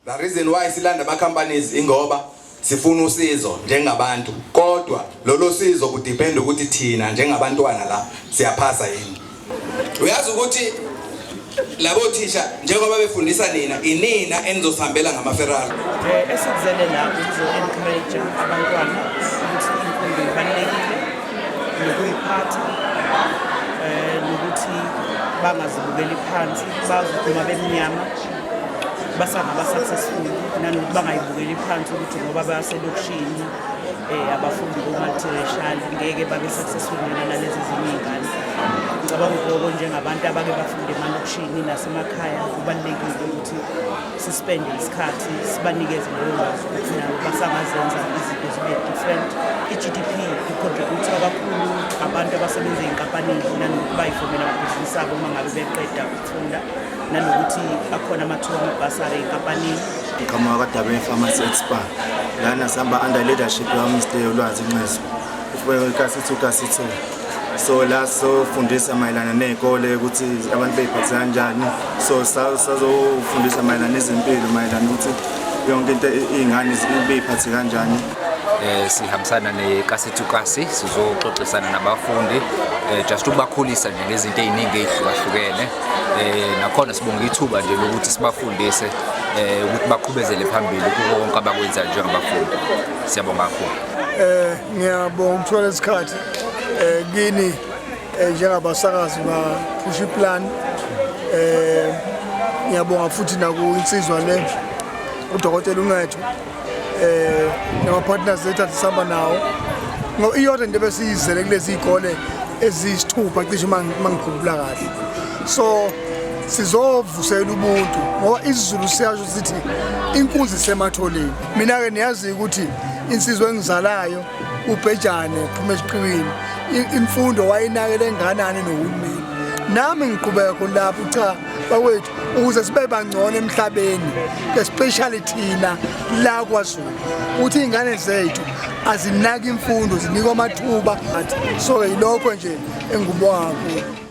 The reason why silanda ama companies ingoba sifuna usizo njengabantu kodwa lolo sizo kudepend ukuthi thina njengabantwana la siyaphasa yini uyazi ukuthi labo thisha njengoba befundisa nina inina enizosihambela ngamaferrari eh, esizele la ukuzo encourage abantwana ukuthi imfundo ibalulekile nokuyiphatha um nokuthi bangazibukeli phansi bazi ukuthi uma bemnyama basangaba successful nanokuthi bangayibukeli phansi ukuthi ngoba baselokishini um abafundi bo-multiracial ngeke babe successful nena nalezi ezinye iy'ngane ngicabanga ukuthi loko njengabantu abake bafunde emalokishini nasemakhaya kubalulekile ukuthi sispende isikhathi sibanikeze leyo lwazi ukuthi nabo basangazenza izinto zibe different i-gdp icontributha kakhulu abantu abasebenza ey'nkampanini nanokuthi bayifomela amabhizinisi abo uma ngabe beqeda ukufunda nanokuthi akhona amathuba amabhasari ey'nkampanini igama wakadabe pharmacy expa lana sihamba under leadership yamr lwazi nxezo ufike kasithu kasithu so la sofundisa mayelana nezikole ukuthi abantu beyiphatha kanjani so sazofundisa mayelana izimpilo mayelana ukuthi yonke into izingane beyiphathe kanjani eh sihambisana nekasithukasi sizoxoxisana nabafundi eh just ukubakhulisa nje ngezinto eziningi ezihlukahlukene eh nakhona sibonga ithuba nje lokuthi sibafundise eh ukuthi baqhubezele phambili kuko konke abakwenza njengabafundi siyabonga kakhulu eh ngiyabonga ukuthola isikhathi eh kini eh, njengabasakazi ba push plan eh ngiyabonga futhi naku insizwa le udokotela uncetho eh nama partners lethu asihamba nawo ngo iyona into besiyizele kulezi izikole ezisithupha cishe mangikhumbula kahle so sizovusela ubuntu ngoba isizulu siyasho sithi inkunzi sematholeni mina ke niyazi ukuthi insizwe engizalayo ubhejane phuma esiqiwini imfundo wayinakele enganani nohulumeni nami ngiqhubeka khona lapho cha bakwethu ukuze sibe bangcono emhlabeni especially thina la kwazulu ukuthi iy'ngane zethu azinaki imfundo zinikwa amathuba so yilokho nje engikubonga kakhulu